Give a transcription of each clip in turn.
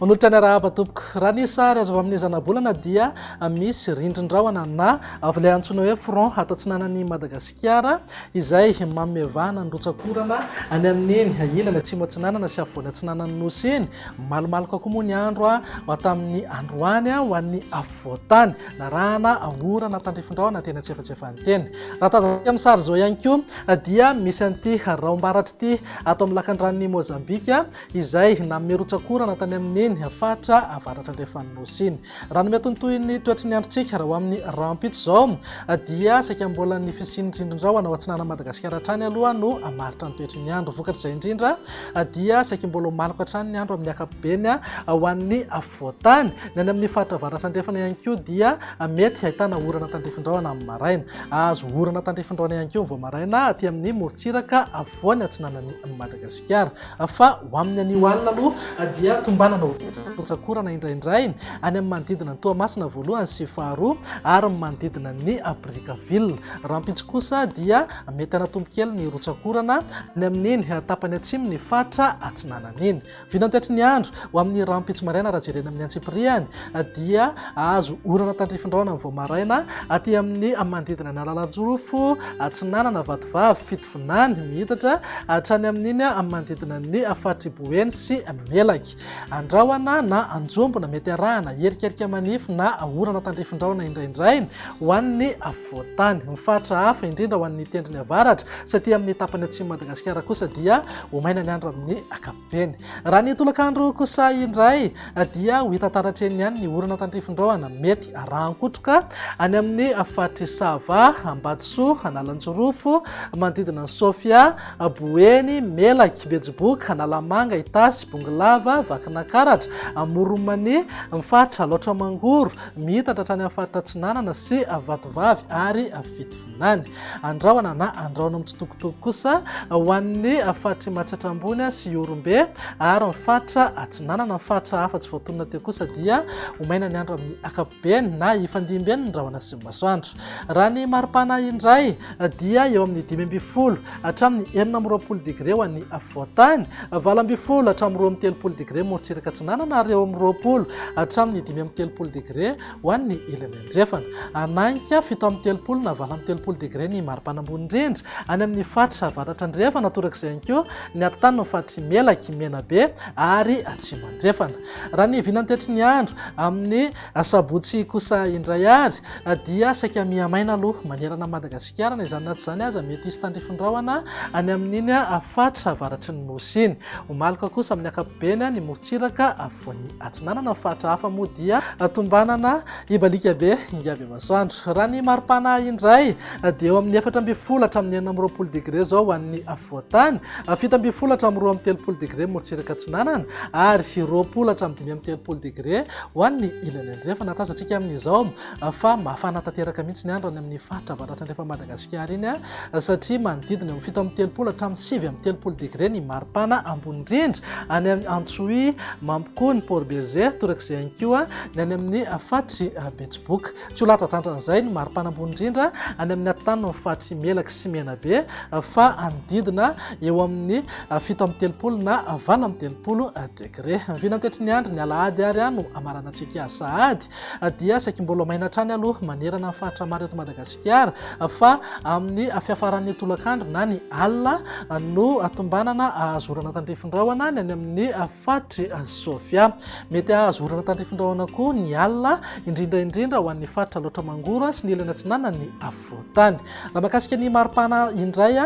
Manotra ny arahaba tompoko. Raha ny sary azo avy amin'ny zanabolana dia misy rindrin-drahona na avy ilay antsoina hoe front ato atsinanan'i Madagasikara izay mamevana ny rotsak'orana any amin'iny ilany atsimo atsinanana sy afovoany atsinanan'ny nosy iny. Malomaloka koa moa ny andro ho tamin'ny androany ho an'ny afovoan-tany. narahana orana tandrifin-drahona teny an-tsefatsefany teny. Raha tazantsika amin'ny sary izao ihany koa dia misy an'ity raombaratry ity ato amin'ny lakandranon'i Mozambika izay nanome rotsak'orana tany amin'iny faritra avaratra andrefan'ny nosy iny. Raha ny miatontohin'ny toetry ny androntsika raha ho amin'ny rahampitso izao dia saika mbola ny fisian'ny rindrin-drahona ao atsinanan'i Madagasikara hatrany aloha no hamaritra ny toetry ny andro. Vokatr'izay indrindra dia saika mbola ho maloka hatrany ny andro amin'ny ankapobeny ho an'ny Voatany, ny any amin'ny faritra avaratra andrefana ihany koa dia mety hahitana orana tandrifin-drahona amin'ny maraina. Hahazo orana tandrifin-drahona ihany koa ny voamairaina aty amin'ny morontsiraka afovoany atsinanan'i Madagasikara. Fa ho amin'ny anio alina aloha dia tombanana ho rotsak'orana indraindray any amin'ny manodidina an'i Toamasina voalohany sy faharoa ary ny manodidina an'i Brickaville. Rahampitso kosa dia mety hanatombo kely ny rotsak'orana any amin'iny tapany atsimon'ny faritra atsinanana iny. Vinantiatry ny andro, ho amin'ny rahampitso maraina raha jerena amin'ny antsipiriany, dia azo orana tandrifin-drahona vao maraina aty amin'ny manodidina ny Analanjirofo Atsinanana, Vatovavy, Fitovinany, mihitatra hatrany amin'iny manodidina ny faritr'i Boeny sy Melaky. Andrahona na anjombona, mety arahana herikerika manify na orana tandrifin-drahona indraindray ho an'ny Voatany. Ny faritra hafa, indrindra ho an'ny tendrony avaratra, sy aty amin'ny tapany atsimon'i Madagasikara kosa dia ho maina ny andro amin'ny ankapobeny. Raha ny tolakandro kosa indray dia ho hita taratra eny ihany ny orana tandrifindrahona mety arahan-kotroka any amin'ny faritr'i Sava, Ambatosoa, Analanjirofo, manodidina an'i Sofia, Boeny, Melaky, Betsiboka, Analamanga, Itasy, Bongolava, Vakinankaratra, Amoron'i Mania, ny faritra Alaotra Mangoro, Miitatra hatrany amin'ny faritra atsinanana sy avatovavy ary fitovinany. Andrahona na andrahoina mitsitokotoko kosa ho an'ny faritr'i Matsiatra Ambony sy Ihorombe ary ny faritra atsinanana. Ny faritra hafa tsy voatonona teo kosa dia ho maina ny andro amin'ny ankapobeny na hifandimby eny ny rahona sy ny masoandro. Raha ny maripana indray dia eo amin'ny dimy ambin'ny folo hatramin'ny enina amby roapolo degre ho an'ny afovoan-tany, valo ambin'ny folo hatramin'ny roa amby telopolo degre morontsiraka atsinanana ary eo amin'ny roapolo hatramin'ny dimy amby telopolo degre ho an'ny ilany andrefana. Hanahika fito amby telopolo na valo amby telopolo degre ny maripana ambony indrindra any amin'ny faritra avaratra andrefana, torak'izay ihany koa ny atotan'ny faritra Imelaky, Menabe ary Atsimo andrefana. Raha ny vinantetry ny andro amin'ny Asabotsy kosa indray ary dia saika mihamaina aloha manerana an'i Madagasikara, na izany na tsy izany aza mety hisy tandrify rahona any amin'iny faritra avaratry ny Nosy iny. Ho maloka kosa amin'ny ankapobeny ny morontsiraka afovoany atsinanana. Ny faritra hafa moa dia tombanana hibaliaka be hingavy masoandro. Raha ny mari-pana indray dia eo amin'ny efatra ambin'ny folo hatramin'ny enina amby roapolo degre izao ho an'ny afovoan-tany, fito ambin'ny folo hatramin'ny roa amby telopolo degre morontsiraka atsinanana ary roapolo hatramin'ny dimy amby telopolo degre Ho an'ny ilany andrefana, tazantsika amin'izao fa mafana tanteraka mihitsy ny andro any amin'ny faritra avaratra andrefan'i Madagasikara iny, satria manodidina eo amin'ny fito amby telopolo hatramin'ny sivy amby telopolo degre ny maripana ambony indrindra any amin'ny Antsohihy, Mampikony, Port Bergé, torak'izay ihany koa ny any amin'ny faritry Betsiboka. Tsy ho latsa-dranjan'izay ny maripana ambony indrindra any amin'ny atinanon'ny faritry Melaky sy Menabe, fa hanodidina eo amin'ny fito amby telopolo na valo amby telopolo degre. Gre, vinantetry ny andry ny alahady ary aho no amaranantsika azy sahady dia saiky mbola maina hatrany aloha manerana ny faritra maro eto Madagasikara fa amin'ny fiafaran'ny tolakandro na ny alina no atombanana ahazo orana tandrifin-drahona ny any amin'ny faritry Sofia. Mety ahazo orana tandrifin-drahona koa ny alina indrindra indrindra ho an'ny faritra Alaotra Mangoro sy ny ilany atsinanan'ny fokontany. Raha mahakasika ny maripana indray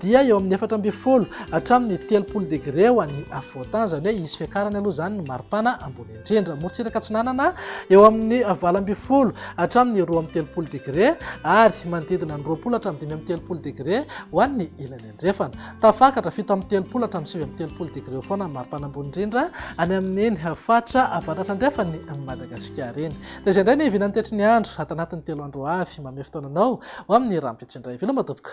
dia eo amin'ny efatra ambin'ny folo hatramin'ny telopolo degre ho an'ny afovoan-tany, izany hoe hisy fiakarany aloha izany ny maripana ambony indrindra. Morontsiraka atsinanana eo amin'ny valo ambin'ny folo hatramin'ny roa amby telopolo degre ary manodidina ny roapolo hatramin'ny dimy amby telopolo degre ho an'ny ilany. Andrefana. Tafakatra, fito amby telopolo hatramin'ny sivy amby telopolo degre eo foana ny maripana ambony indrindra any amin'iny faritra avaratrandrefan'i Madagasikara iny. Dia izay indray ny hivinan'ny tetry ny andro ato anatin'ny telo andro ho avy. Manome fotoana anao ho amin'ny rahampitso indray. Veloma tompoko.